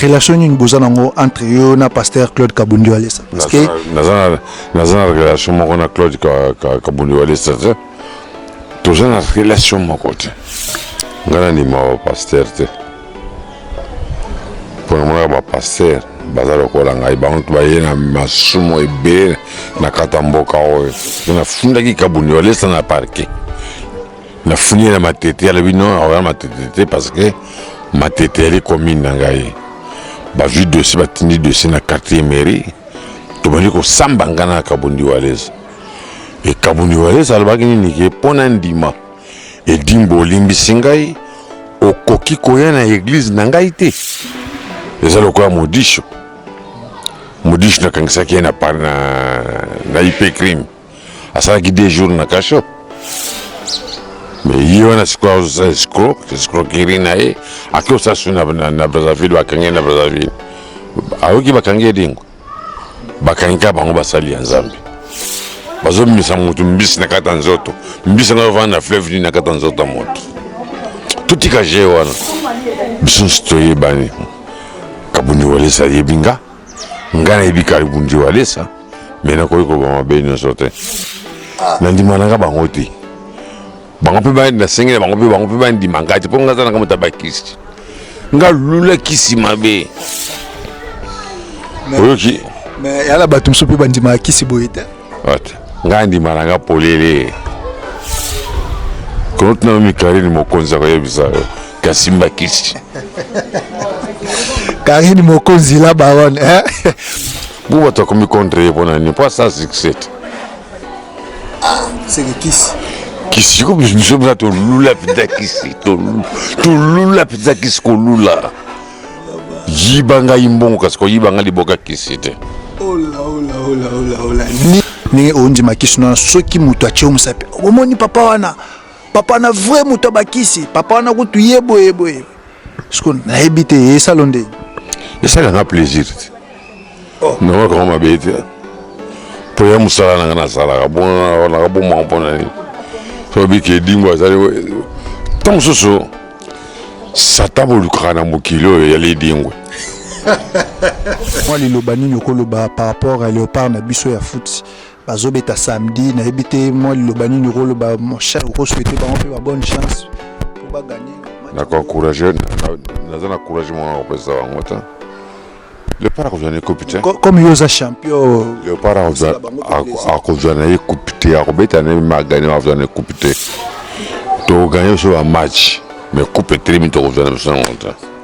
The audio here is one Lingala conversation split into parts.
relation nini boza nango entre yo na pasteur claude kabundi walesa naza na relation moko na claude kabundi walesa te toza na relation moko te ngai nandima bapaster te mpo namonaka bapaster baza lokola ngai bango baye na masumu ebele na kati ya mboka oyo nafundaki kabuni balesa na parke nafuni ye na matete alobi no aoya matete te parce que matete yali commune na ngai bazwi dossier batindi dossier na quartier mairie tobandi kosamba ngai na kabundi walesa ekabuni wa yesu alobaki nini ke mpo na ndima edimbo olimbisi ngai okoki koya na eglize na ngai te eza lokola modisho modisho nakangisaki ye na, na, na ipe crime asalaki deux jours na kasho me ye wana sikoyo azosala escro escroquerie na ye ake osala su na brazzaville bakangi ye na brazzaville ayoki bakangi ye dingo bakangi kaka bango basali ya nzambe bazobimisa motu mbisi na kati ya nzoto mbisi yango ovanda na fleuve nini na kati ya nzoto ya moto totika je wana biso nso toyebani kabundi walesa ayebi nga nga nayebi kabundi walesa me nakoki kobama mabe nyonso te ah. nandima nanga bango te bango mpe ba- nasengeli bango mpe bango mpe bandima ngai te mpo ngai aza nanga moto abakisi nga lula kisi mabe oyoki mais yala bato mosusu mpe bandimaka kisi boye te Ata, ngai ndima na nga polele kono tuna mikarine mokonzi akoyebisa yo kasi mbakisi karine mokonzi la baronne eh? mpo bato akomi contre ye mpo na nini mpo asala succès te ah seke kisi kisi ko biso mpenza tolula mpenza kisi tolula mpenza kisi kolula yiba ngai mbongo kasi koyiba ngai liboka kisi te ndenge ondima kisi nona soki moto atye yo mosapi omoni papa wana papa wana vrai moto ya bakisi papa wana kutu ye boye boye siko nayebi te esalo nde esalaka plaisir te oh. nanga kama mabe te mpo ya mosala nanga nasalaka bonaka bomaka mpo na nini sobi ke edimbo azali ntango mosusu sata bolukaka na mokili oyo ya lidingwe mwa liloba nini okoloba par rapport ya leopard na biso ya futi bazobeta samedi nayebi te mwa liloba nini okoloba mon cher okosuete bango mpe ba bonne chance mpo baganye nakoencourage naza na courage moko nakopesa bango te leopard akozwa na ye coupe te comme yo oza champion leopard akozwa na ye coupe te akobeta na ye magane akozwa na ye coupe te tokoganye biso bamatch mais coupe etelemi tokozwa na biso yango te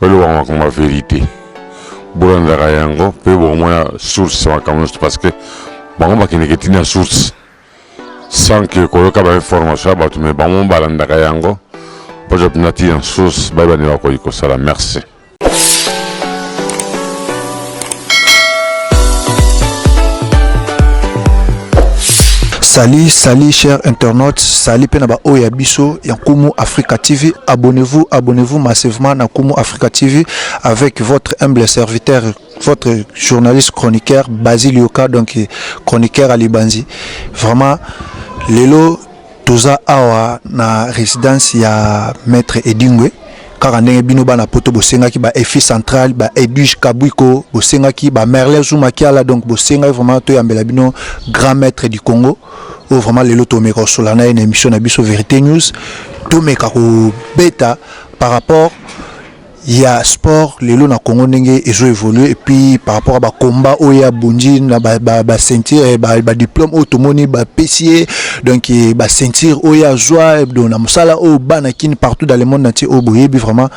balobaka makambo ya verite bolandaka yango mpe bokomona source ya makambo nyonso parce que bango bakendeke ti na source sans que koyoka bainformation ya bato me bango balandaka yango baza mpenza ti na source bayeba nde bakoki kosala merci Salut, salut chers internautes, salut pena ba oya biso ya Kumu Africa TV. Abonnez-vous, abonnez-vous massivement na Kumu Africa TV avec votre humble serviteur, votre journaliste chroniqueur Basile Yoka, donc chroniqueur à Libanzi. Vraiment, Lelo toza awa na residence ya maître edingwe kaka ndenge bino bana poto bosengaki ba efi central ba edwige kabwiko bosengaki ba merle zuma kiala donc bosengaki vraiment toyambela bino grand maître du congo oyo vraiment lelo tomeka kosola na ye na émission na biso vérité news tomeka kobeta par rapport ya sport lelo na Congo ndenge ezo évoluer et puis par rapport à ba combat oyo ya bundi na ba ba, ba ceinture eh, ba, ba diplôme oyo tomoni ba pesier donc eh, ba ceinture oyo ya joie eh, donc na musala oyo bana kin partout dans le monde entier oyo boyebi vraiment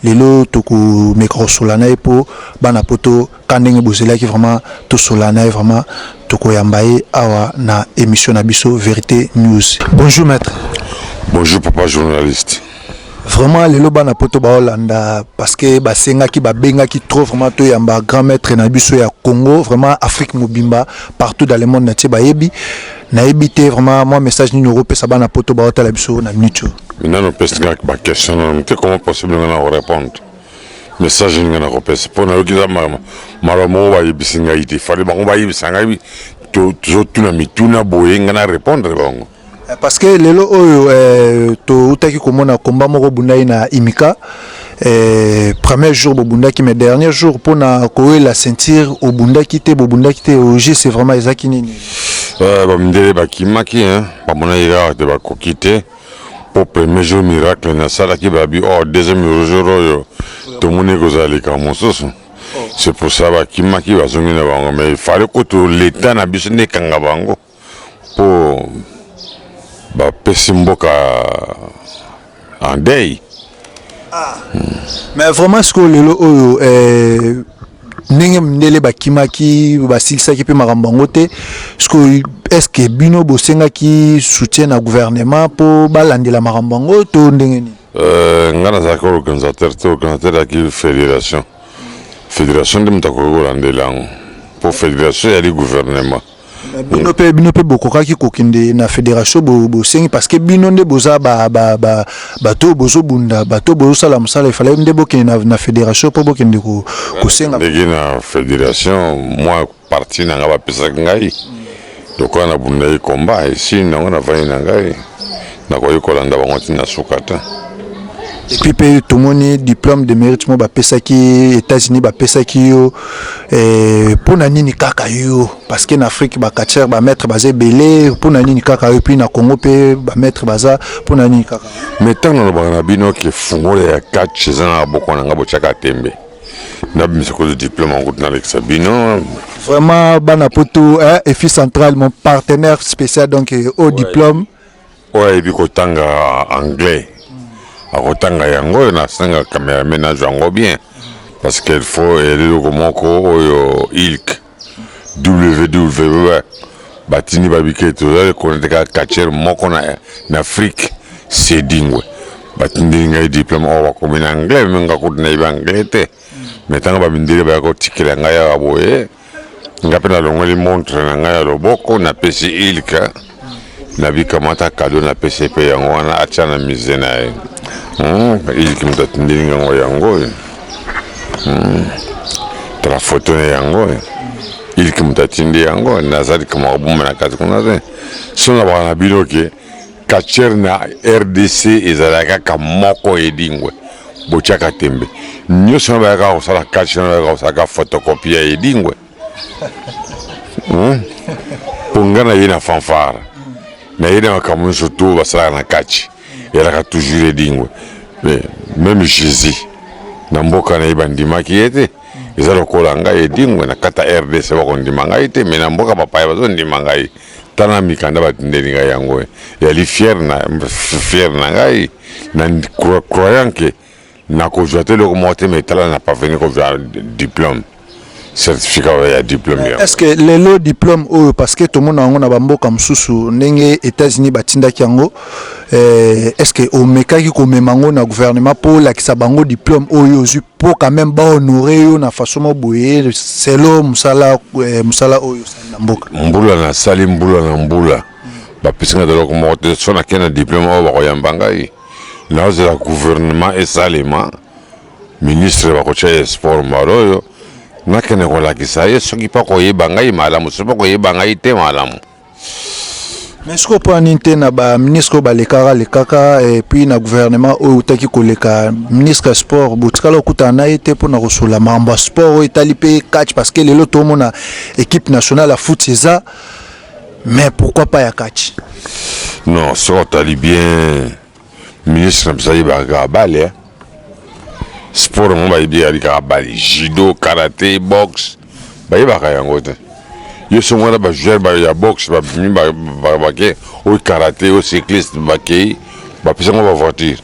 lelo toko mekrosola na ye po bana poto ka ndenge bozelaki vraiment tosola na ye vraiment tokoyamba ye awa na émission na biso vérité news bonjour maître bonjour papa journaliste vraiment lelo bana poto baolanda parce que basengaki babengaki trop vraiment toyamba grand maître na biso ya congo vraiment afrique mobimba partout dans le monde na tie bayebi nayebi te vraiment mwa message nini okopesa bana poto baotala biso na minute oyo nano pesi kaka baquestion nano moke comment possible nga na orépondre message ninga na kopesa mpo nayoki eza maloba moko bayebisi ngai te fale bango bayebisa ngai tozotuna mituna boye ngai na répondre bango eh, parce que lelo oyo eh, toutaki komona komba moko bundaki na imika eh, premier jour bobundaki mais dernier jour mpona koyela ceinture obundaki te bobundaki te oje c'est vraiment ezaki nini bamindele bakimaki bamonaki kaka te bakoki te po premier jour miracle nasalaki babi or oh, deuxième jour oyo tomoni ekozala likambo mosusu c'est pour ça bakimaki bazongi na bango mais fale kutu leta na biso nde ekanga bango mpo bapesi mboka en deuil Ah. Mais vraiment ce que lelo oyo euh ndenge mindele bakimaki basilisaki mpe makambo yango te sikoyo estce bino bosengaki soutien na gouvernement mpo balandela makambo yango to ndenge nini euh, ngai nazalaki organisateur te organisateur yaki fédération fédération nde moto akoki kolandela yango mpo fédération eyali gouvernement bino mpe bino mpe bokokaki kokende na federation bosengi parce que bino nde boza bato oyo bozobunda bato oyo bozosala mosala efale nde bokende na, na federation mpo bokende kosenga ndenge na federation mwa parti na ngai bapesaki ngai lokola nabundaki komba esili nango navandi na ngai Nakoki kolanda bango ti na suka te. Epuis mpe tomoni diplome de merite moko bapesaki Etats-Unis, bapesaki yo eh, mpo na nini kaka yo? Parce que na Afrique ba catcheur ba maître baza ebele, mpo na nini kaka yo? Epuis na Congo mpe ba maître baza, mpo na nini kaka? Mais ntango nalobaka na bino ke fungola ya catch eza na maboko na ngai, botyaka tembe nabimisa kozo diplome yango kutu nalekisa bino Vraiment bana poto eh, EFI central mon partenaire spécial donc eh, au diplôme oyo ayebi kotanga anglais akotanga yango oyo nasanga cameraman azwa yango bien parce qu'il faut eloko moko oyo ilk ww batindi babike tozali konateka catcher moko na, na afrique sedingwe batindeli ngai diplome oyo bakomi na anglais me nga kutu nayebi anglais te me ntango bamindele baya kotikela ngai awa boye Nga pe nalongoli montre na nga ya loboko napesi Ilka nabi kamata cadeau napesi ye pe yango wana atia na musee na ye. Hum, Ilka moto atindeli nga ngo yango oyo. Hum, tala foto na yango oyo. Ilka moto atindi yango nazali kama kobomba na kati kuna te. Soki nalobaka na bino ke Catcheur na rdc ezalaka kaka moko Edingwe botiaka tembe nyoso na bayaka kosala catch na bayaka kosala ka photocopie ya Edingwe hmm? po nga na ye na fanfare na ye na makambo nyonso to basalaka na catch elaka toujours Edingwe mais même Jésus na mboka na ye bandimaki ye te eza lokola ngai Edingwe na kata rdc bakondima ngai te mais na mboka bapaya bazondima ngai tala mikanda batindeli ngai yango yali fiere na, fiere na ngai na croyant ke nakozwa te eloko moko te me tala na parveni kozwa diplome certificat oyo ya diplome yango est ce que lelo diplome oyo parce que tomona yango na bamboka mosusu ndenge états-unis batindaki yango eh, est ce que omekaki komema yango na gouvernement mpo olakisa bango diplome oyo ozwi mpo quand même bahonore yo na façon mo boye selo mosala eh, mosala oyo mbula na sali mbula na mbula bapesi ngai eloko moko te so nakei na diplome oyo bakoyamba ngai nazela gouvernement esalema ministre bakotya ye sport mbala oyo nakende kolakisa ye soki mpo koyeba ngai malamu soki mpo koyeba ngai te malamu mais sikoyo mpo na nini te na baministre oyo balekaka lekaka et puis na gouvernement oyo eutaki koleka ministre ya sport botikala kokutana na ye te mpo na kosolola makambo ya sport oyo etali mpe catch parce que lelo tomona équipe nationale ya foot eza mais pourquoi pas ya catch non soki otali bien ministre na biso ayebaka kaka bale eh? sport yango bayebi yali kaka bale judo karate boxe bayebaka yango te yo songo wana bajoueur ya boxe babimi bake oyo karate oyo cycliste bakei bapesa yango bavoiture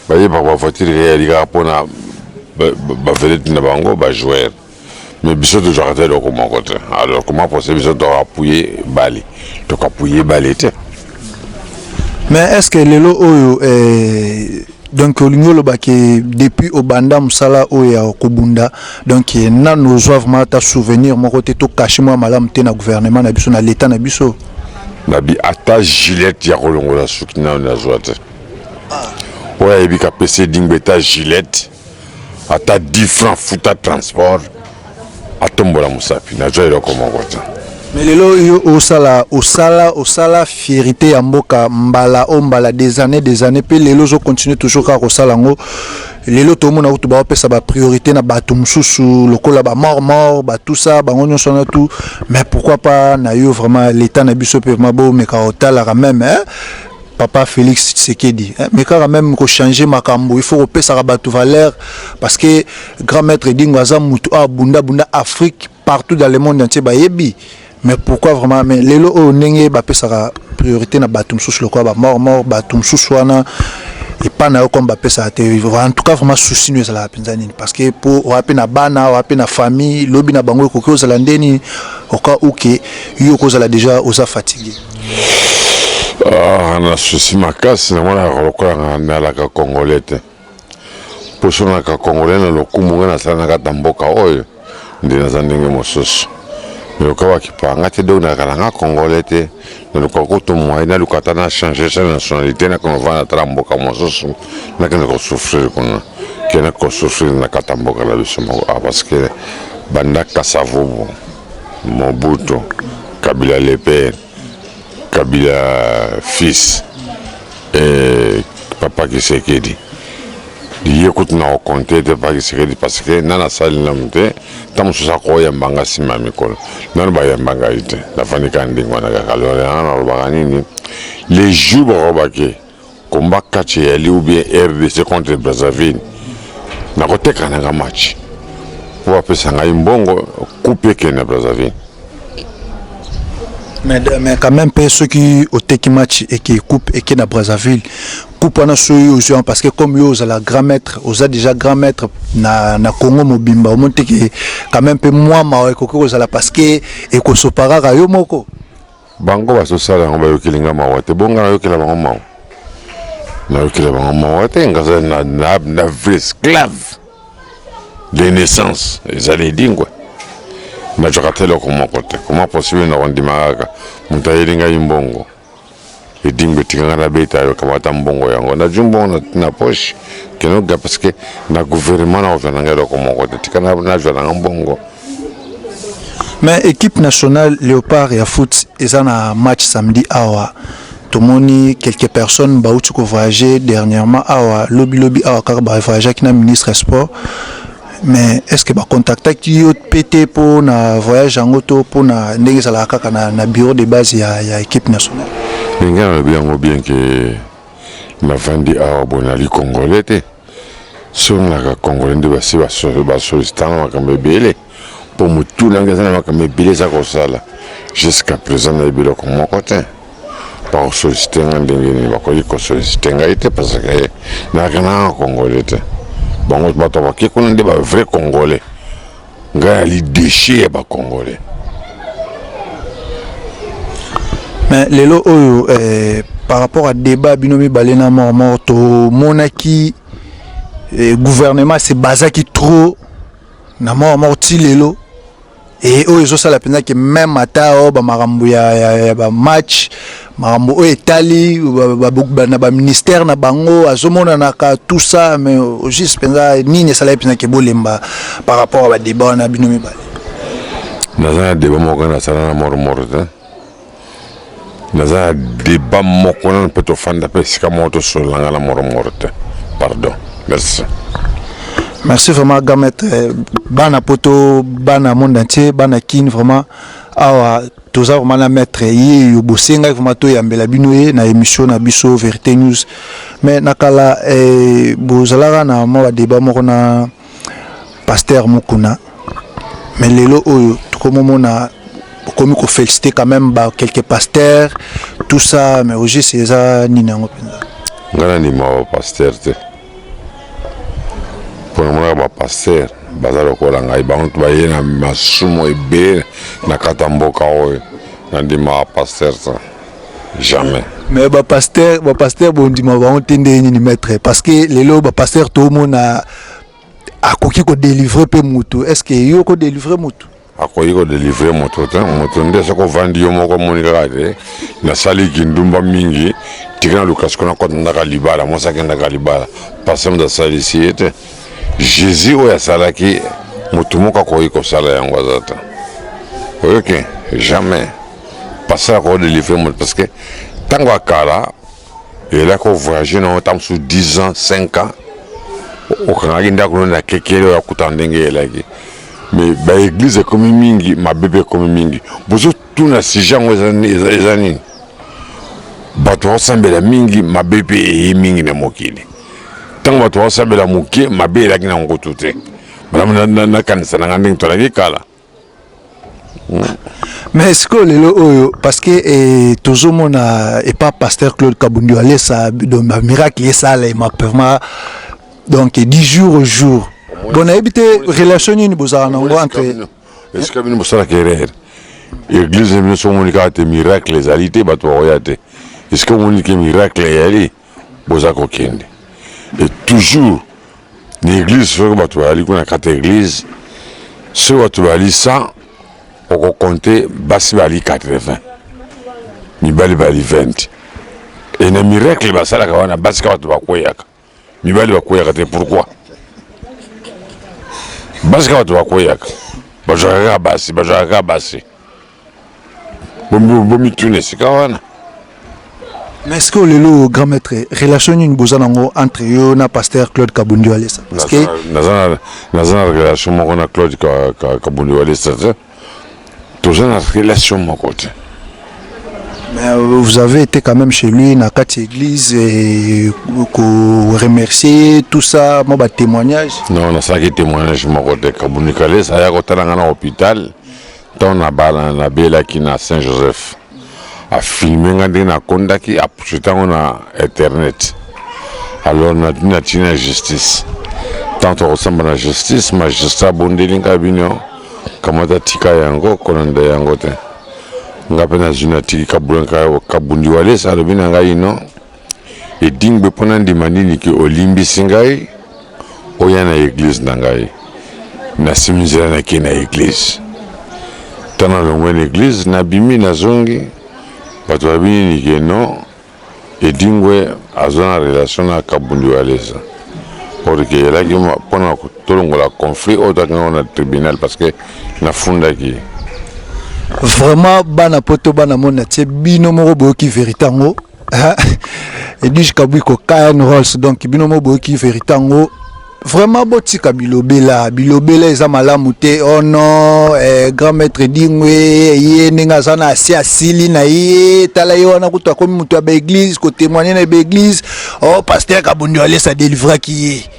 bayebaka bavoiture eyali kaka mpona bavedete na bango bajoueur mais biso tozwaka te eloko moko te alors comment possible biso tokapuye bale tokapuye bale te mais est ce que lelo oyo eh, donc olingi oloba ke depuis obanda mosala oyo ya kobunda donc eh, nano ozwa vraiment ata souvenir moko te tokashi mwa malamu te na gouvernement na biso na leta na biso nabi ata gilete ya kolongola suki nano nazwa te oyo ayebi kapese dingbe ta gilete ata 10 francs futa transport atombola mosapi nazwa eloko moko te mais lelo yo osala osala osala fierité ya mboka mbala o mbala des années des années mpe lelo ozocontinue toujours kaka kosala yango lelo tomona kutu baopesa bapriorité na bato mosusu lokola bamort mort batusa bango nyonso wana tout mais pourquoi pas na yo vraiment l'état na biso mpe vraiment bomeka otalaka meme papa Felix Tshisekedi eh, mais kaka même ko changer makambo il faut ko pesaka batu valeur parce que grand maître Dingo aza mutu a bunda bunda Afrique partout dans le monde entier bayebi mais pourquoi vraiment mais lelo oyo ndenge ba pesaka priorité na batu mususu lokola ba mort mort batu mususu wana epai na yo comme bapesaka te en tout cas vraiment souci no ezalaka mpenza nini parce que mpo oya mpe na bana oya mpe na famille lobi na bango ekoki ozala nde nini oka uke yo okozala déjà oza fatigue Ah, na susi makasi na mwana yaka lokola na nalaka congolais te mposo naka congolais na lokumu nga nasala na kati na mboka oyo nde naza ndenge mosusu naluka bakipanga te donc nalaka nanga congolais te naluka kutu moye naluka ata na change sa nationalité nakende kovanda ata na mboka mosusu nakende kosouffrir kuna kende kosouffrir na kati ya mboka na biso moko ah, parce que bandaka savubu Mobutu, Kabila le père, Kabila fils et Papa Kisekedi. ye kutu na okonte ete paki sekedi parceke nani asali nanu te ntango mosusu akoyamba nga nsima ya mikolo nanu bayamba ngai te nafandi kaka ndenge wana kaka lolelana nalobaka nini le jour bakobaki Combat catch eyali ou bien RDC contre Brazzaville nakoteka nanga match po bapesa ngai mbongo coupe ekende na Brazzaville. Mais, mais quand même pe soki oteki match eke coupe eke na Brazzaville coupe wana soki ozwi yango parce que comme yo ozala grand maître oza déjà grand maître na, na Congo mobimba omoni te ke quand même pe mwa mawa ekoki kozala parce que ekosopaka kaka yo moko Bango bazosala yango bayokeli nga mawa te, bonga nayokela bango mawa, nayokela bango mawa te, ngaza na, na, na vrai esclave de naissance ezali edingwe nazwaka te eloko moko te koma possible na kondima kaka moto ayeli ngai mbongo Edingwe tika nga nabeta yo kamata mbongo yango nazwi mbongo na, na poche kende oga parce que na gouvernement nakozwa na nga eloko moko te tika na- nazwa na nga mbongo mais équipe nationale léopard ya foot eza na match samedi awa tomoni quelques personnes bauti kovoyage dernièrement awa lobilobi awa kaka bavoyageaki na ministre ya sport mais est ce que bacontactaki yo mpe te mpo na voyage yango to mpo na ndenge ezalaka kaka na, na bureau de base ya, ya équipe nationale ndenge nalobi yango bien ke navandi awa bo nali congolais te soki nalaka congolais nde basi basolisitanga makambo ebele mpo motu nanga eza na makambo ebele eza kosala jusqu'à présent nayebi eloko moko te bakosolisite nga ndenge nini bakoki kosolisite ngai te parce que nayaka nanga congolais te bango bato bake kuna nde ba vrai congolais ngai ali déchet ya bacongolais mais lelo oyo eh, par rapport à débat bino mibale na mormor tomonaki eh, gouvernement se basaki trop na mormor ti lelo e oyo ezosala mpenza ke meme ata o oh, bamakambo ya, ya, ya bamatch makambo oyo etali na baministère na bango azomonanaka tout ça mais au juste mpenza nini esalaki mpenza ke bolemba par rapport ya badeba wana bino mibale naza na deba moko nasala na mormor te naza na deba moko nano mpe tofanda mpe esika moko tosolola nga na moro moro te pardon merci merci vraiment gamet eh, bana poto bana monde entier bana kin vraiment awa toza vraiment na maître ye yo bosengaki vraiment toyambela bino ye na émission na biso vérité news mais na kala eh, bozalaka na mwa badeba moko na pasteur mukuna mais lelo oyo tokomomona okomi kofelicite quand même ba quelque pasteur tout ça mais ogis eza nini yango mpenza ngai nandima bapasteur te mpo namonaka bapasteur baza lokola ngai bango to baye na masumu ebele na kata mboka oyo nandima bapasteur te jamais mais ba pasteur ba pasteur bondima bango te ndenge nini maître parce que lelo ba pasteur tomona akoki ko délivrer pe mutu est ce que yo ko délivrer mutu akoki kodelivre moto te moto nde soki ovandi yo moko omoni kaka te nasali kindumba mingi tika na lukasi kuna kota ndaka libala mwasi akendaka libala pase moto asalisi ye te jésus oyo asalaki moto moko akoki kosala yango aza te oyoki jamais pasteur ako delivre moto parce que ntango ya kala elaki ovoyage nango ntango mosusu 10 ans 5 ans okangaki ndako no na kekele oyo akutana ndenge elaki mais baeglize ekomi mingi mabe mpe ekomi mingi bozotuna sujet yango eza nini bato bakosambela mingi mabe mpe eye mingi na mokili ntango bato bakosambela moke mabe elaki na nkutu te malamu nakanisa na ngai ndenge tolaki kala mais sikoyo lelo oyo parce que eh, tozomona epa pasteur claude kabundi alesa bamiracle esalema pema donc du jour au jour bon nayebi te relation nini bozala na yango entre esika bino bosalaka erreur eglize biso omoni kaka te miracle ezali te bato bakoya te esika omoni ke miracle eyali boza kokende e toujours na eglize soki bato bazali kuna kati ya eglize soki bato bazali 100 okokonte basi bazali 80 mibali bazali 20 e na miracle basalaka wana basi ka bato bakweyaka mibali bakweyaka te pourquoi basi ka bato bakweyaka bazwaka kaka basi bazwaka kaka basi bomituna esika wana mais ce que lelo grand maître relation nini boza nango entre yo na pasteur claude kabundi walesa parce que naza na relation moko na claude kabundi walesa te toza na relation moko te Mais euh, vous avez été quand même chez lui, dans quatre églises, et vous remercier, tout ça, moi, bah, témoignage. Non, on a ça qui témoignage, je m'en côté, Kabounikale, ça y a côté dans l'hôpital. Ntango nabala, nabelaki na Saint Joseph. Afilme ngai ndenge nakondaki, apuseta yango na internet. Alors natindi na justice. Ntango tokosamba na justice, magistrat abondeli ngai bino kamata tika yango, kolanda yango te. Ngai mpe nazwi natiki kabundiwalesa alobi na ngai non. Edingbe mpo nandima nini ke olimbisi ngai oya na eglise na ngai nasimi nzela nake na eglise ta nalongwe na eglise nabimi nazongi bato babi nini ke no edingwe aza na relation na kabundi waleza or ke elaki mpo na tolongola conflit oyo toyaki yango na tribunal parce que nafundaki vraiment bana poto bana mona tie bino moko boyoki verite yango Edwige Kabwiko Kayan Rolls donc bino mo boyoki verite yango vraiment botika bilobela bilobela eza malamu te oh non eh, grand maître dingwe ye ndenge aza na asi asili na ye tala ye wana kutu akomi moto ya baeglise kotemoigne na baeglise oh paster kabundi alesa delivraki ye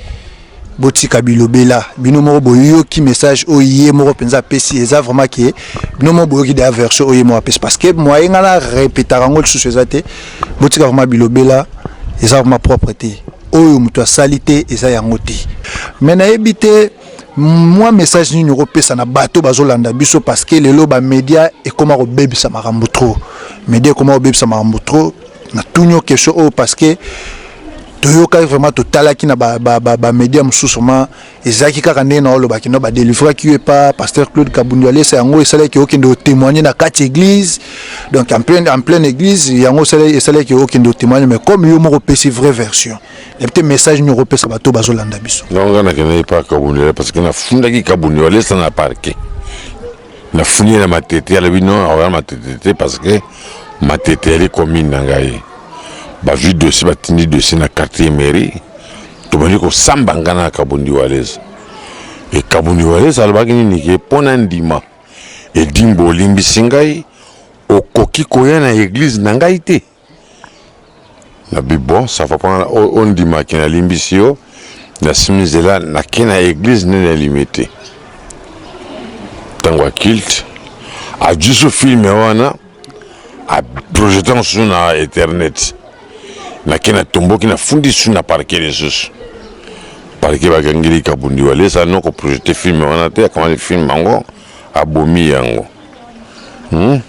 botika bilobela bino moko boyoki message oyo ye moko mpenza apesi eza vraiment ke bino moko boyoki deya version oyo ye moko apesi parce que moye ngai na repetaka yango lisusu eza te botika vraiment bilobela eza vraiment propre te oyo moto asali te eza yango te me nayebi te mwa message nini okopesa na bato bazolanda biso parce que lelo bamédia ekóma kobebisa makambo trop média ekóma kobebisa makambo trop natuni yo question oyo parce que toyokaki vraiment totalaki na bamédia mosusu vraiment ezalaki kaka ndenge na olobaki no badelivraki yo epa pasteur claude kabundu alesa yango esalaki okende otémoigne na kati église donc en pleine, en pleine église yango esalaki okende otémoigne mais comme yo moko opesi vraie version ebi te message nini okopesa bato oyo bazolanda biso donc nga nakendaki epa kabundu parce que nafundaki kabundu alesa na parquet nafuni ye na matete alobi no akoya matete te parce que matete yali commune na ngai bazwi dossier batindi dossier na quartier mairie tobandi kosamba ngai na kabundi walesa e kabundi walesa alobaki nini ke mpo na ndima edimbo olimbisi ngai okoki koya na eglize na ngai te na bi bon ça va pas on dit ma kina limbisi yo na simizela na kina église ne na limite tango a kilt a juste film wana a projetant sur na internet na kina tombo kina fundi sur na parquet les sous parquet ba gangili kabundi wale ça non ko projeter film wana te akamani film ango Abomi yango. Hum?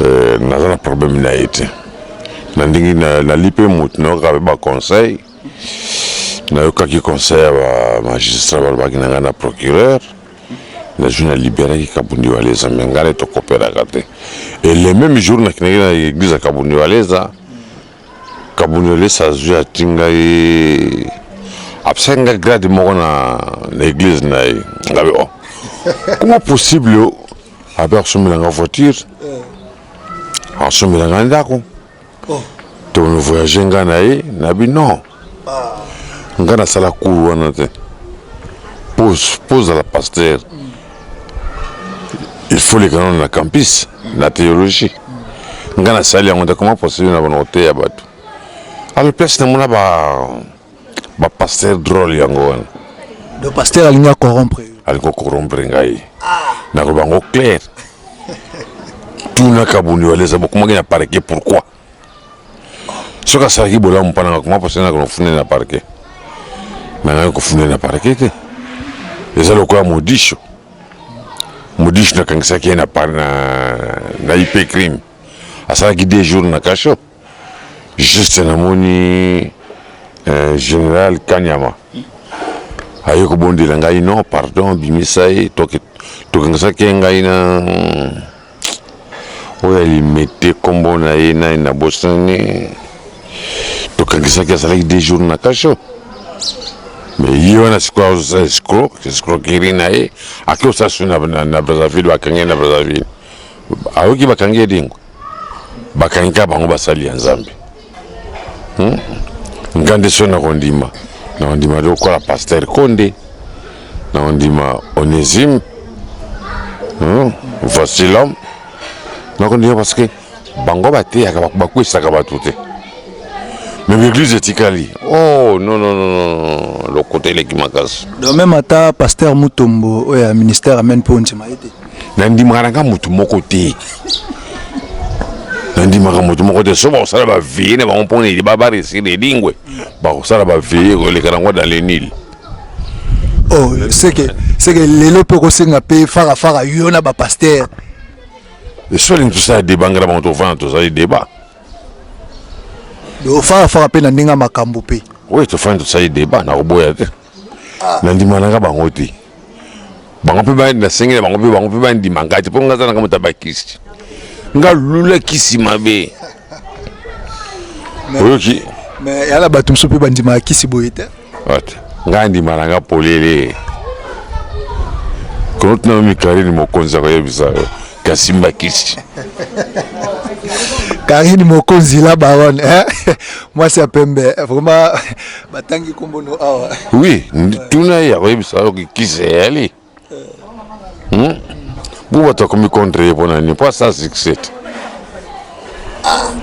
Euh, naza na problème na ye te. Na ndenge na nali pe moto na yoka ba conseil. Na yoka ki conseil ya ba magistrat ba baki na nga na procureur. Na jour na libérer ki Kabundi Waleza mais ngale to cooperaka te. Et le même jour na kinaki na église ya Kabundi Waleza. Kabunelesa azui ati ngai apesaki ngai grade moko na na eglise na ye ngabe oh comment possible abe akosombela nga voiture akosombela nga ndako oh. to voyage nga na ye nabi non nga nasala cour wana te po ozala pasteur il faut leka nano na campus na théologie nga nasali yango te koma poseli na bana koteya bato alors place namona bapasteur drôle yango wana donc pasteur alingi acorrompre alingi ocorrompre ngai ah. nakobango claire tuna kabundi waleza bokomaki na parke pourquoi soki asalaki bolamu mpo nanga koma mposa nanga kofunde na parke me nanga kofunde na parke te eza lokola modisho modisho nakangisaki ye na, na, na ip crime asalaki deux jours na kasho juste namoni euh, général kanyama aye kobondela ngai non pardon bimisa ye tokangisaki ye ngai na Oyo ya limete kombo na ye nani na bosani tokanisaki azalaki deux jours na kasho mais ye wana sikoyo azosala escro escroquerie na ye ake osala soni na brazzaville bakangi ye na brazzaville ayoki bakangi ye dingo bakangi kaka bango basali ya nzambe hmm? nga nde so nakondima nakondima lokola paster konde nakondima onesime hmm? vasilom nakondima parce que bango bateyaka bakwesaka bato te mais l'église etikali oh non non non lokuta eleki makasi donc même ata pasteur mutombo oyo ya ministère amene mpe ondima ye te nandimaka nanga motu moko te nandimaka motu moko te so bakosala baveye na bango mpona eliba baresir elingwe bakosala baveye koleka nango dans le nil oh, seke seke lelo mpe okosenga mpe farafara yo na bapaster esolingi tosala deba ngai na bango tofana tozali deba farafara mpe na ndenge ya makambo mpe oui tofani tosali deba nakoboya te ah. nandimanaka bango te bango mpe nasengela bango mpe bango mpe bandima ngai te mpo ngai aza nanga moto abakisi nga lula kisi mabe oyoki mais yala bato mosusu mpe bandimaka kisi boye te ngai ndima na nga polele kono tuna yo mikarine mokonzi akoyebisa yo kasimba kisi karine mokonzi la baronne eh? mwasi ya pembe vraiment batangi kombono awa oui tuna ye akoyebisa yo kisi eyali hmm? bo bato akomi contre ye mpo na nini mpo asa succès te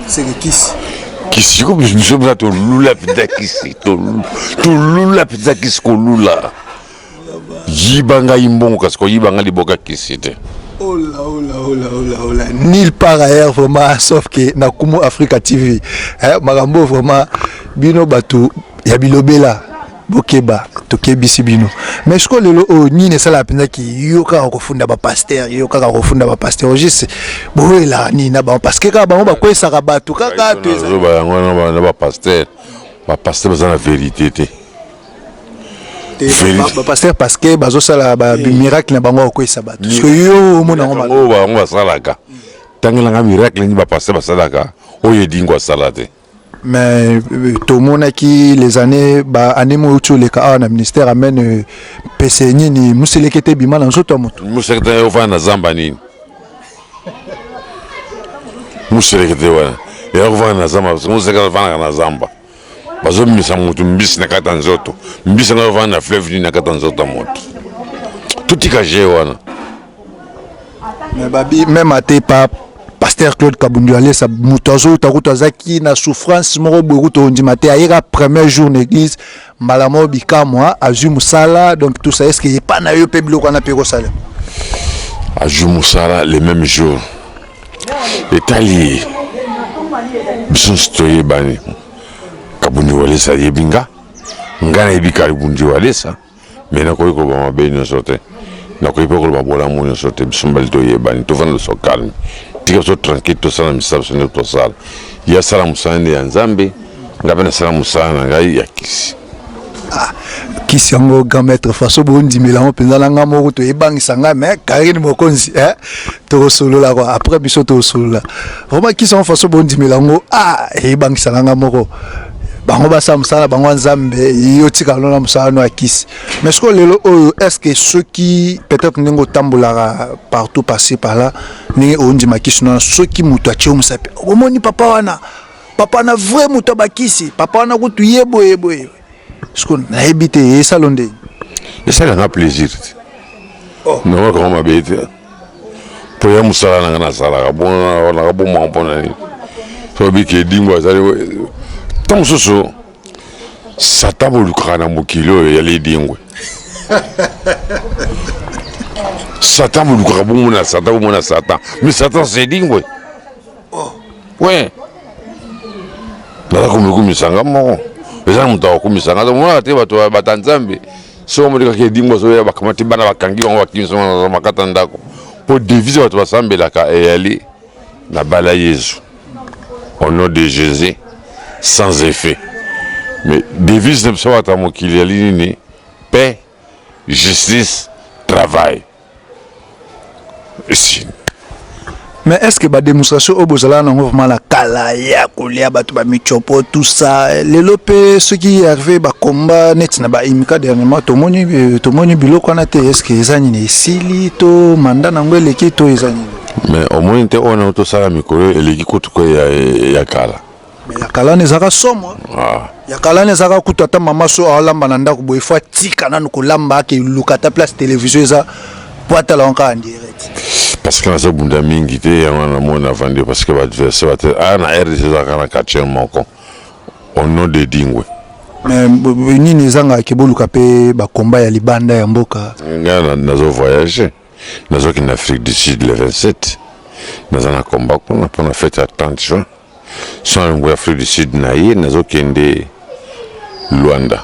seke kisi kisi ko biso mpenza tolula mpenza kisi tolula mpenza kisi kolula yiba ngai mbongo kasi koyiba ngai liboka kisi te Ola, ola, ola, ola, ola. Nil par ailleurs vraiment sauf que na Kumu Africa TV eh, makambo vraiment bino batu ya bilobela bokeba tokebisi bino mais siko lelo oyo oh, nini esalaka mpenza ki yo kaka kofunda bapaster yo kaka kofunda bapaster ogiste boyelaka nini na bango parce que kaka bango bakwesaka bato kaka tozoba yango na bapaster bapaster baza na verité te bapaster parce que bazosala bamiracle na bango akokweyisa bato parceke yo omona yango maoyo bango basalaka tangelanga miracle nini bapaster basalaka oyo edingo asala te mais euh, tomonaki les années baannée moyo uti oleka awa na ministère amene euh, pese nini moselekete ebima na nzoto ya moto moselekete yo ofanda na zamba nini moselekete wana yakofanda na zamba moselekete afandaka na zamba bazobimisa motu mbisi na kati ya nzoto mbisi yango avanda na fleuve nini na kati ya nzoto ya moto totika je wana mais babi meme ate pa pasteur claude kabundu alesa moto azouta kutu azalaki na souffrance moko boye kutu ondima te ayeka premier jour na église mbala moko bikamwa azwi mosala donc tout ça est ce que epa na yo mpe biloko wana mpe ekosalema azwi mosala le même jour etali ye biso nyonso toyebani kabundi walesa ayebi nga nga nayebi kabundi walesa me nakoki koloba mabe nyonso te nakoki mpe koloba bolamu nyonso te biso mbali toyebani tofanda biso calme tika biso tranquille tosala misala biso nde tosala ye asala mosala nde ya nzambe ngai mpe nasala mosala na ngai ya kisi Ah, kisi yango grand maître faso bondimela yango mpenza na ngai moko toyebangisa ngai me karine mokonzi eh? tokosolola kua après biso tokosolola vraimen kisi yango faso bondimela yango ah, eyebangisa na ngai moko bango basala mosala na bango ya nzambe yo tika lona mosala no ya kisi mais sikoyo lelo oyo est ce que soki peut-être ndenge otambolaka partout passé par là ndenge ondima kisi nona soki moto atye yo mosapi omoni papa wana papa na vrai moto abakisi papa wana kutu ye boye boye siko nayebi te esalo ndenge esalaka plaisir te oh. nanga kama mabe te mpo ya mosala nanga nasalaka bonaka bomaka mpo na nini sobi ke edingo azali ntango mosusu sata bolukaka na mokili oyo eyali edingwe satan bolukaka bomona satan bomona satan mais satan sedingwe we naza komikumisa nga moko eza na moto akokumisa nga tomonaka te bato bata nzambe soki omodekaki edingo azoya bakamati bana bakangi bango bakimisa bango makata ndako mpo devise bato basambelaka eyali na bala yezu au nom de jésus sans effet mais devise na biso bato ya mokili yali nini paix justice travail esi mais est ce que bademonstration oyo bozalaka nango vraiment na kala ya kolia bato bamicopo tout ça lelo mpe soki herve bakomba neti na baimika dernièrement tomoni euh, tomoni biloko wana te est ce que eza nini esili to manda nango eleki to eza nini mais omoni te oyo nango tosala mikolo eleki kutuko ya, ya kala Mais ya kalana ezaka somo hein. ah. ya kalana ezaka kutu ata mama so alamba na ndako boye fo atika nanu kolamba ake luka ata place télévision eza po atala yango kaka direct parce que naza bunda mingi te yango namoni avandi parce que baadversaire bate a ah, na rdc ezalaka na quartier moko au nom de dingwe mais nini ezangaka ke boluka mpe bakomba ya libanda ya mboka ngai nazo voyage nazokende afrique du sud le 27 naza na komba kuna mpo na fete ya 30 juin Son yango ya Afrique du Sud na ye nazokende Luanda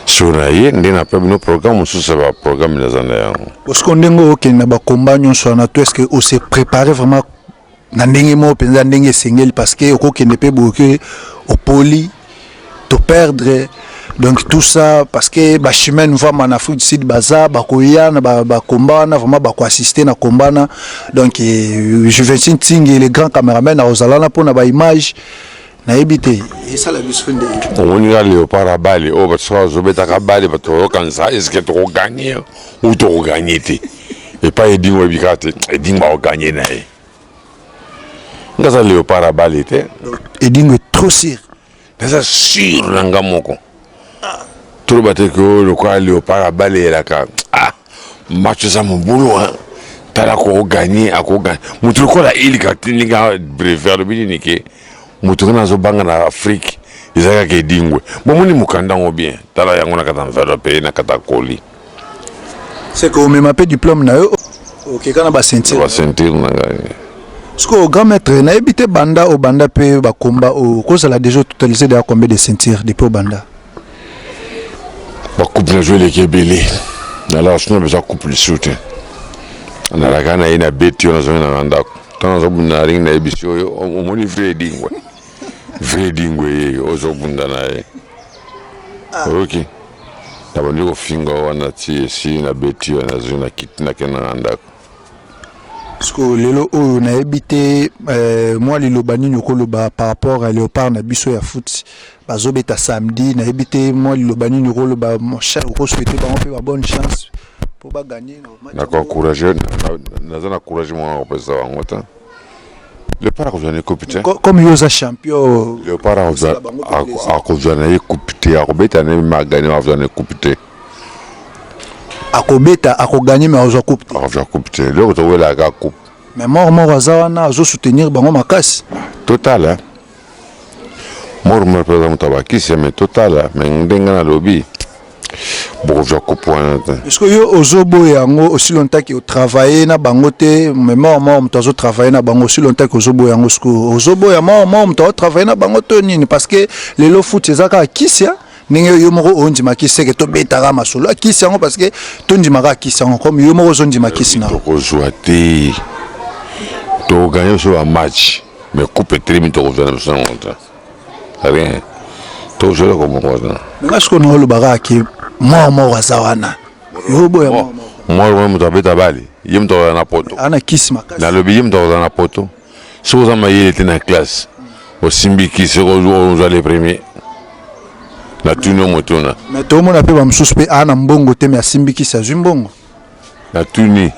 sur na ye nde napea bino programme mosusu ya baprogramme naza na yango bosiko ndenge okende na bakomba nyonso wana to estce que ose prépare vraiment na ndenge moko mpenza ndenge esengeli parce que okokende mpe boke opoli to perdre donc tout ça parce que ba chemin vraiment en Afrique du Sud baza ba koya na ba, ba combat wana vraiment ba ko assister na combat wana donc euh, je vais tingi le grand cameraman na ozala na pona ba image nayebi te esala biso nde omoni nga leopard abale oyo oh, bato soki bazobetaka bale bato bazokanisa eske tokoganye ou tokoganye te epai edingo ebika te edingo akoganye na ye nga aza leopard ya bale te edingo est trop sur naza sur na nga moko ah. toloba te ke oyo lokola leopard ya bale elaka ah, match eza mobulu tala akoganye akoganye moto lokola ilika ndenge brevet alobi nini ke moto kana azobanga na afrike eza kaka edingwe bomoni mokanda yango bien tala yango na kata mvelo mpe na kata koli C'est que omema pe diplôme na yo okeka na ba ceinture. Ba ceinture na ngai. Siko grand maître nayebi te banda obanda pe ba combat okozala déjà totalisé déjà combien de ceinture depuis obanda? Ba coupe na jouer leki ebele. Na la sino beza coupe lisusu te. Na la kana ye na beti yo na zongi na ndako. Tant na zobunda ring na yebisi oyo omoni vrai dingwe. Vrai dingwe ye ozobunda na ye. oyoki nabandi kofinga wana ti esi nabeti yo nazwi na kiti nakenda na ndako sikoyo lelo oyo nayebi te eh, mwa liloba nini okoloba par rapport ya léopard na biso ya foot bazobeta samedi nayebi te mwa liloba nini okoloba mon cher okoswete bango mpe ba bonne chance mpo baganye naza na courage mwana kopesa bango te leopard akozwa na ye coupe te Co- comme yo oza champion leopard akozwa- Ba- bango ako- blessé. akozwa na ye coupe te akobeta na ye magane akozwa na ye coupe te akobeta akoganye me akozwa coupe te akozwa coupe te eloko towelaka coupe mais moko moko aza wana azo soutenir bango makasi total hein? mormel mpe aza moto ya bakisi me totala me ndenge nalobi bokozwa kupu wana te eske yo ozoboya yango osi lontaki otravaille na bango te me mor mor moto azotravaille na bango osi lontaki ozoboya yango sikoyo ozoboya mor mor moto aotravaille na bango to nini parce que lelo futi eza kaka kisia ndenge yo moko ondima kisi seke tobetaka masolo ya kisi yango parce que tondimaka kisi yango comme yo moko ozondima kisi na tokozwa te tokoganye biso bamatch Mais coupe etelemi tokozwa na biso yango te rien tozela komokozana nga siko na olobaka ke mor moko aza wana yo oboya mor moko moto abeta bale ye moto akozala na poto ana kisi makasi nalobi ye moto akozala na poto soki oza mayele te na classe osimbi kisi ozwa le premier natuni yo motuna mais tomona mpe bamosusu mpe aa na mbongo te me asimbi kisi azwi mbongo Na tuni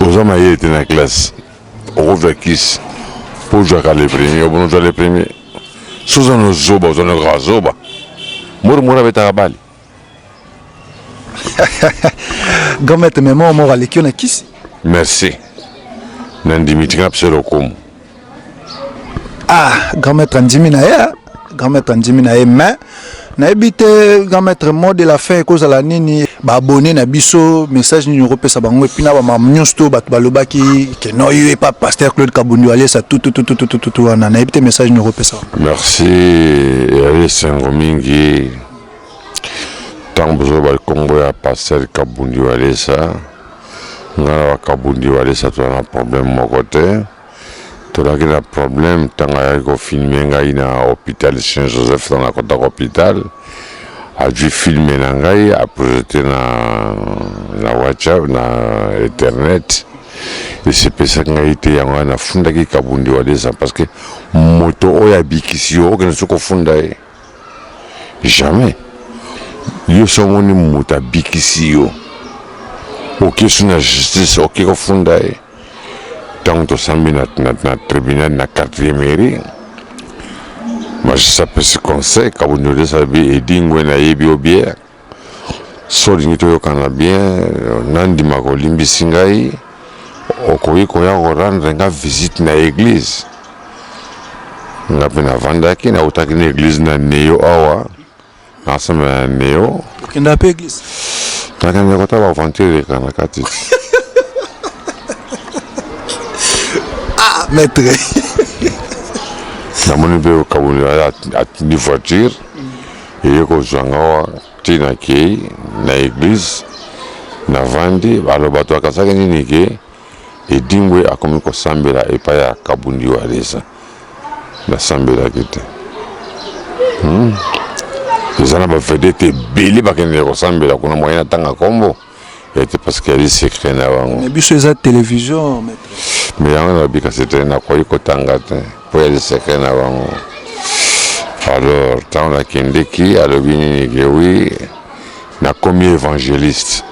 oza mayele te na classe okozwa kisi po ozwaka le premier obona ozwa le premier so oza na zoba oza na kaka zoba mori mori abetaka bale gomete mema omoko aleki yo na kisi merci nandimi tika mpe se lokumu ah grand maître andimi na ye ah. grand maître andimi na ye mais nayebi te grand maître mot de la fin ekozala nini baabone na biso message nini okopesa bango epuis na bamama nyonso to bato balobaki ke no yo epa pasteur claude kabundi aliesa tututututututu wana nayebi te message nini okopesa merci eyali esengo mingi ntango bozoba nkombo ya pasteur kabundi aliesa nga na bakabundi walesa toza na problème moko te tolaki na problème ntango ayaki kofilme ngai na hôpital saint joseph ntango nakotaka hôpital azwi filme na ngai aprojete na, na whatsapp na internet esepesaki ngai te yango wana nafundaki kabundi walesa parce que moto oyo abikisi yo okende soki kofunda ye jamais yo songo ni moto abikisi yo okesu na justice oke kofunda ye ntango tosambi na, na, na tribunal na quartier mairie magistrat apesi conseil kabundolesa bi edingwe nayebi obie Soki olingi toyokana bien, nandima kolimbisi ngai, okoki koya ko rendre nga visite na eglise. Nga mpe navandaki, nautaki na eglise na Neo awa, nasambela na Neo. Okenda mpe eglise? Nakende kotala ba aventure eleka na kati. Ah, maitre. Namoni mpe Kabund atindi voiture. eye kozwa nga awa ti nakei na eglize navandi alo bato bakasaki nini ke edimbwe akomi kosambela epai ya kabundi walesa nasambelaki te hmm? eza na bavedete ebele bakendeke kosambela kuna moyen atanga nkombo ete parce que yali secret na bango mais biso eza télévision maître mais yango na bika c'était na koyi kotanga te po yali secret na bango alors ntango nakendeki alobi nini ke wi nakomi évangéliste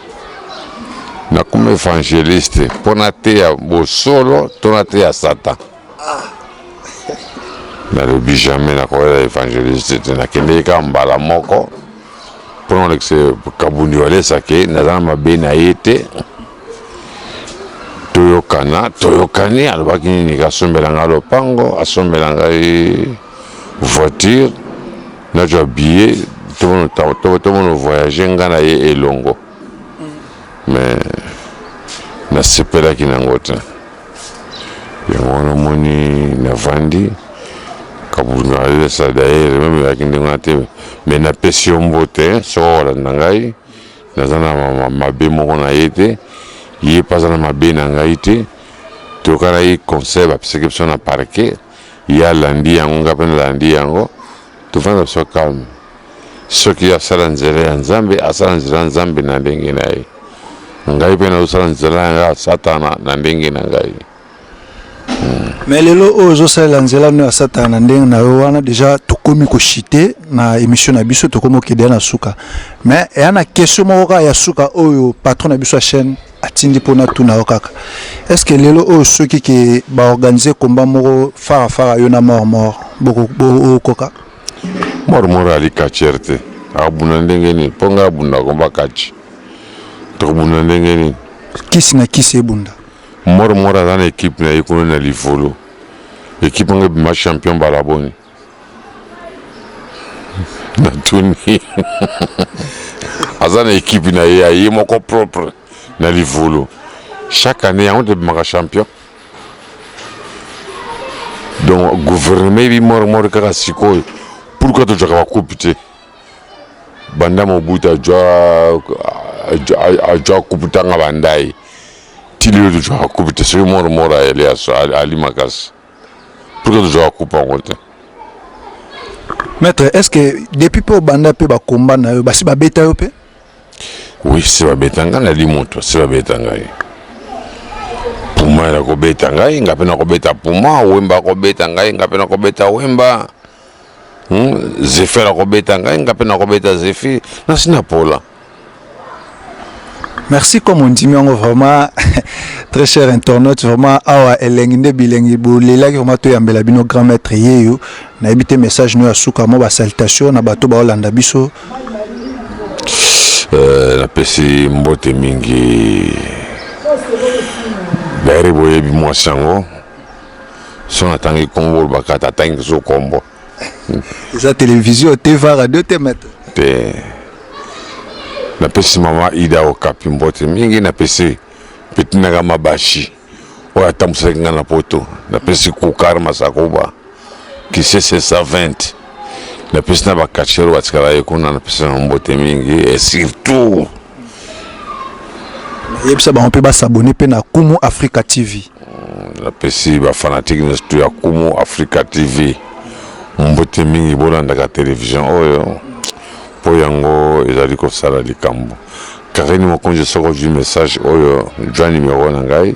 nakomi évangéliste mpo nateya bosolo to nateya satan nalobi jamais nakoyela evangeliste te nakendeki kaka mbala moko mpo na kolekisa kabundi walesake naza na mabe na ye te toyokana toyokani alobaki nini kasombela ngai lopango asombela ngai voiture nazwa billet tomono voyage ngai na ye elongo mais nasepelaki na yango te yango wana omoni navandi kabundu nalelesa dayere meme ezalaki ndenge wana te me napesi yo mbote soko olanda ngai naza na mabe moko na ye te ye mpe aza na mabe na ngai te toyokanaki conseil bapesaki biso na parke ye alandi yango ngai mpe nalandi yango Tovanda biso calme soki yo asala nzela ya nzambe asala nzela ya nzambe na ndenge na ye ngai mpe nazosala nzela yanga ya satana na ndenge na ngai hmm. me lelo oyo ozosalela nzela no ya satana na ndenge na yo wana deja tokomi koshite na émission na biso tokomi okede ya na suka me eya na question moko kaka ya suka oyo patron na biso ya chaîne atindi mpo natuna yo kaka est ce que lelo oyo soki ke baorganize komba moko fara fara yo na mort mort bokoka mort mort ali katiere te akobunda ndenge nini mpo ngai abunda komba kati tokobunda ndenge nini kisi na kisi ebunda mort mort aza na ekipe na ye kuna na livolo ekipe yango ebima champion balaboni natuni aza na ekipe na ye aye moko propre na livulu chaque année yango nde bimaka champion donc gouvernement ebi mormor kaka sikoyo pourquoi tozwaka bakupe te banda mobutu ajwa ajwa kupe tanga bandaye ti lelo tozwaka kupe te soki mormor ayeli alimaka pourquoi tozwaka coupe yango te maître est ce que depuis mpe obanda mpe bakomba na yo basi babeta yo mpe oui se babeta ngai nali moto se babeta ngai puma nakobeta ngai ngai mpe nakobeta puma wemba akobeta ngai ngai mpe nakobeta wemba Hmm? Zephyr akobeta ngai nga mpe nakobeta Zephyr nasi na pola merci comme ondimi yango vraiment très cher internaute vraiment awa elengi nde bilengi bolelaki vraiment toyambela bino grand maître yeyo nayebi te message no ya suka mwa basalutation na bato baolanda biso euh, napesi mbote mingi daire boyebi mwasi yango so natangi nkombo olobaka ata atangi lisusu nkombo eza televizio te va radio te mete te napesi mama ida okapi mbote mingi napesi petinaka mabashi oyo atambwisaki ngai na poto napesi kukar masakoba kisese 120 napesi na bakachere batikala ye kuna napesi na mbote mingi e surtout yebisa bango mpe basabone mpe na kumu africa tv mm, napesi bafanatike nyonso to ya kumu africa tv mbote mingi bolandaka televizio oyo mpo yango ezali kosala likambo karini mokonzi soko ozwi message oyo jwa nimero na ngai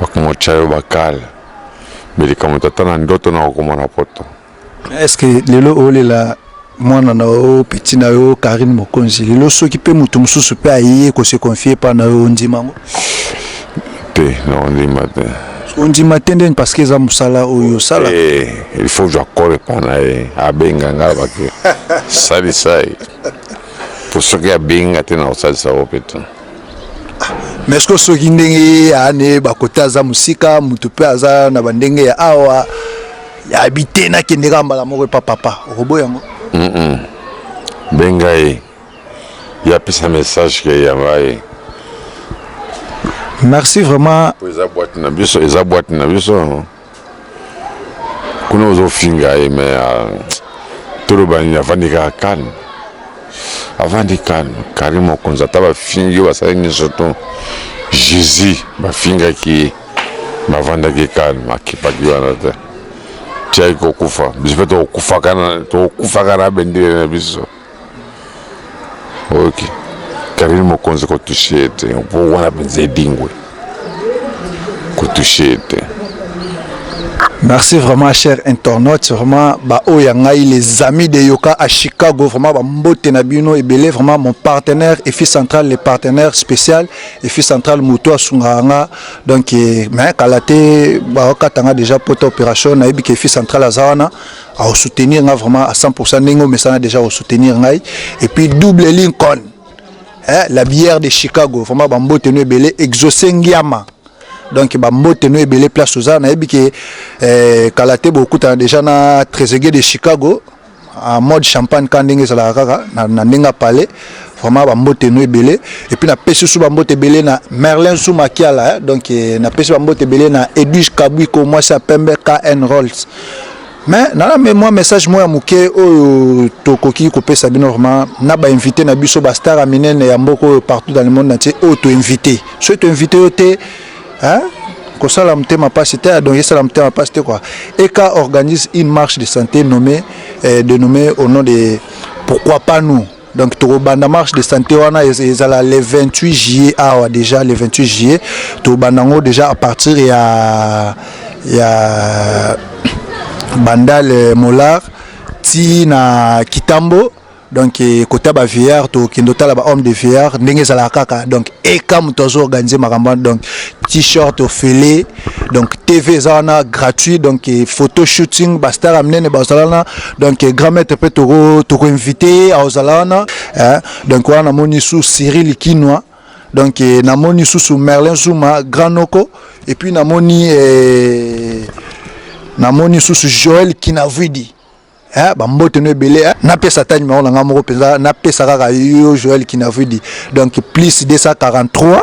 Bakongo tya yo bakal me likambo tata na ndoto na kokoma na poto. Est-ce que lelo olela mwana na yo petit na yo Carine Mokonzi lelo soki mpe moto mosusu mpe aye ko se confier epai na yo ondima yango? Te, nakondima te. Ondima te ndeni parce que eza mosala oyo osala. Eh, il faut ozwa kolo epai na ye abenga ngai alobaki salisa ye mpo soki abengi ngai te nakosalisa yo mpe te. mais ce que soki ndenge ye ane bakota aza mosika moto mpe aza na bandenge ya awa yabi te nakende kaka mbala moko epa papa okobo yango benga ye ye apesa message ke yanga ye merci vraiment eza boite na biso eza boite na biso kuna ozofinga ye me ah, toloba nini avandi kaka calme avandi calme kari mokonzi ata bafingi yo basali nyonso to jésus bafingaki ye bavandaki calme akipaki wana te tiaki kokufa biso mpe tokokufaka na bendele na biso oyoki karine mokonzi kotushe ye te mpo wana mpenza edingwe kotushe ye te Merci vraiment cher internaute vraiment ba oya ngai les amis de Yoka à Chicago vraiment ba mbote na bino ebele vraiment mon partenaire et fils central le partenaire spécial et fils central moto asunga nga donc eh, mais kala te ba katanga déjà poto opération na yebi que fils central azawana au soutenir nga vraiment à 100% ndenge omesana déjà au soutenir ngai et puis double Lincoln eh, la bière de Chicago vraiment ba mbote no ebele exaucé ngiama donc ba mbote no ebele place oza nayebi ke eh, kala te bokutana déjà na Trezeguet de Chicago en mode champagne ka ndenge ezalaka kaka na, na ndenge apale vraiment bambote no ebele epuis napesi susu bambote ebele na merlin zuma kiala eh? donc eh, napesi bambote ebele na edwige kabwiko mwasi ya pembe kn rolls mais nana me mwa message moko ya moke oyo tokoki kopesa bino vraiment na bainvité na biso bastar ya minene ya mboka oyo partout dans le monde natie oyo toinvité soki toinvité yo te hein? kosala motema mpasi te donc esala motema mpasi te quoi eka organise une marche de santé nommée euh, de nommée au nom de pourquoi pas nous donc tokobanda marche de santé wana ezala le 28 juillet awa déjà le 28 juillet tokobanda yango déjà à partir ya ya bandal molar ti na kitambo donc eh, kota ba VR to kendo tala ba homme de VR ndenge ezalaka kaka donc eka moto azo organiser makambo donc t-shirt ofele donc tv eza wana gratuit donc eh, photo shooting bastar ya minene bazala wana donc eh, grand maître mpe tokoinvite ye akozala wana eh, donc wana namoni su siri likinwa donc eh, namoni susu merlin zuma grand noko et puis namoni eh, namoni susu joel kinavidi eh, bambote no ebele eh. napesa ata nimero na ngai moko mpenza napesa kaka yo joel kinavidi donc plus 243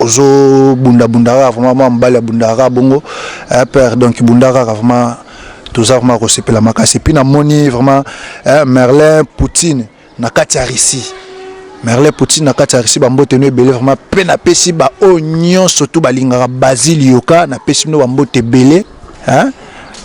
Ozo bunda bunda kaka vraiment mwana mobali abundaka kaka bongo eh, père donc bunda kaka vraiment toza vraiment kosepela makasi epuis namoni vraiment eh, Merlin Poutine na kati ya Russie Merlin Poutine na kati ya Russie bambote no ebele vraiment mpe napesi baoyo nyonso tu balingaka Basile Yoka napesi bino bambote ebele hein?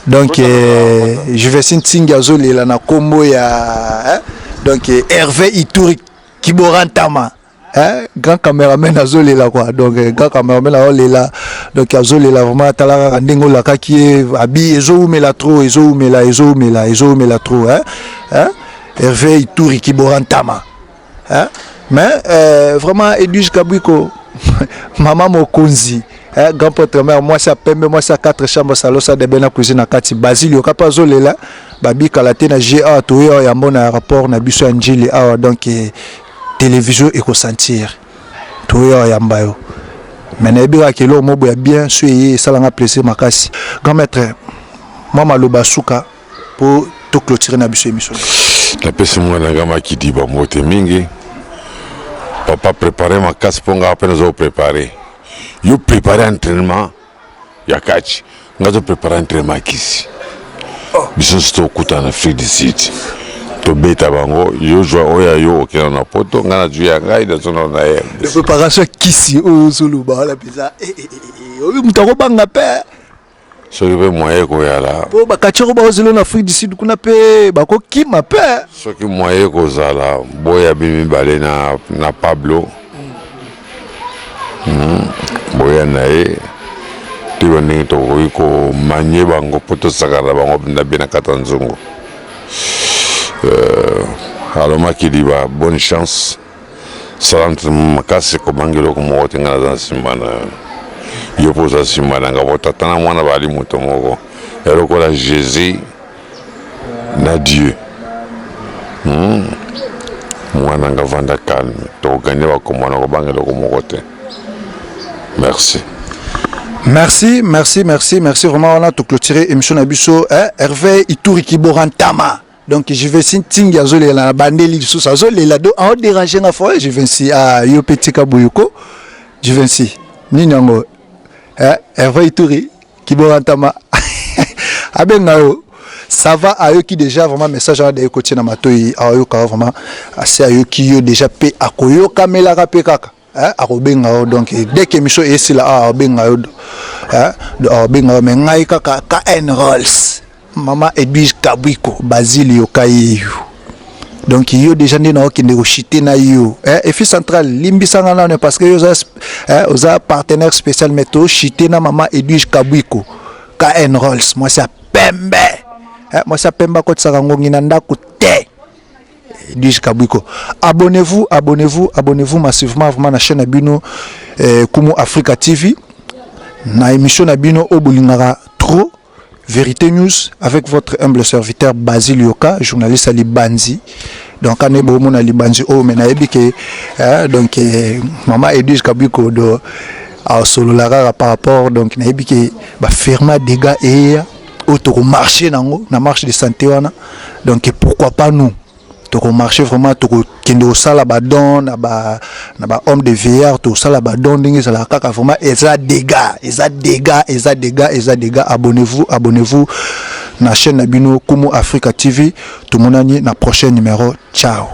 donc eh, Juvesine Tsingi azolela na kombo ya hein? donc eh, Hervé Ituri Kiborantama eh, grand cameraman azolela quoi donc eh, grand cameraman azolela donc azolela vraiment atala kaka ndenge olakaki ye abi ezowumela trop ezowumela ezowumela ezowumela trop eh, eh, herve ituri kibora ntama eh, mais eh, vraiment edwige kabwiko mama mokonzi eh, grand potre mare mwasi ya pembe mwasi ya 4 chambre salosa debe na cuisine na kati basile yoka mpe azolela babikala te na ga toye awa yambo na rapport na biso ya njili awa donc eh, television eko sentir toya yamba yo mais nayebi kaka keloko mobo ya bien so eye esalanga plaisir makasi grand maître mwa maloba suka mpo to clôturer na biso émission napesi mwana nga makidi bambote mingi papa prépare makasi mpo ngaa mpe nazo prépare yo prépare entraînement ya catch nga to prepare entraînement kisi oh. biso nso tokutana na afrique du sud tobeta bango yo zwa oyo ya yo okenda na poto ngai nazwi ya ngai nazonao na ye préparation ya kisi oyo ozoloba wana mpenza eh, eh, eh, oyo moto akobanga mpe soki mpe moye ekoyala mpo bakatioko baozelo na afrique du sud kuna mpe bakokima mpe soki moye ekozala boya bi mibale na, na pablo Hmm, boya na ye toyeba ndenge tokoki komanye bango mpo tosakana na bango mpenza bie na kati ya nzungu euh, alomaki liba bonne chance sala ntrainement makasi komangi eloko moko te ngai naza nsima na yo mpo oza nsima na ngai mpo tata na mwana bazali moto moko ya lokola jésus na Dieu. Hmm. Mwana nga vanda calme. Tokoganye bakombo na kobanga eloko moko te. Merci. Merci, merci, merci, merci vraiment. On a tout clôturé émission Nabusso. Hein? Hervé Ituri Kiborantama. Donc je vais si tingi azolela na bandeli lisusu azolela do en déranger na foyer je vais si à ah, yo petit kaboyoko je vais si nini yango eh Hervé Ituri Kibora Ntama abenga yo ça va ayoki déjà vraiment message wana daye kotie na matoi ayoka vraiment asi ayoki yo déjà mpe akoyokamelaka mpe kaka eh, akobenga yo donc dès que émission esila akobenga yo akobenga yo mais ngai kaka kn rolls Maman Edwige Kabwiko Basile Yokayeyu donc yo deja nde naokende koshite na yo eh, efi central limbisanga nano parce que yo oza, eh, oza partenaire spécial mais toshite na mama edwige kabwiko kn rolls mwasi ya pembe eh, mwasi ya pembe akotisaka ngongi na ndako te edwige kabwiko abonnez-vous abonnez-vous abonnez-vous massivement vraiment na chaîne ya bino eh, kumu africa tv na émission na bino oyo bolingaka trop Verite News avec votre humble serviteur Basil Yoka, journaliste à Libanzi. Donc, quand on mona Libanzi, oh, mais naebi que, hein, donc, eh, maman Edwige Kabiko, do, à Sololara par rapport, donc, naebi que, bah, firma dégâts et, au marché, na marche de santé, wana. Donc, pourquoi pas nous? toko marcher vraiment toko kende osala ba don na ba na ba homme de veillard to sala ba don ndenge ezala kaka vraiment eza dega eza dega eza dega eza dega abonnez-vous abonnez-vous na chaîne na bino Kumu Africa TV to monani na prochain numéro ciao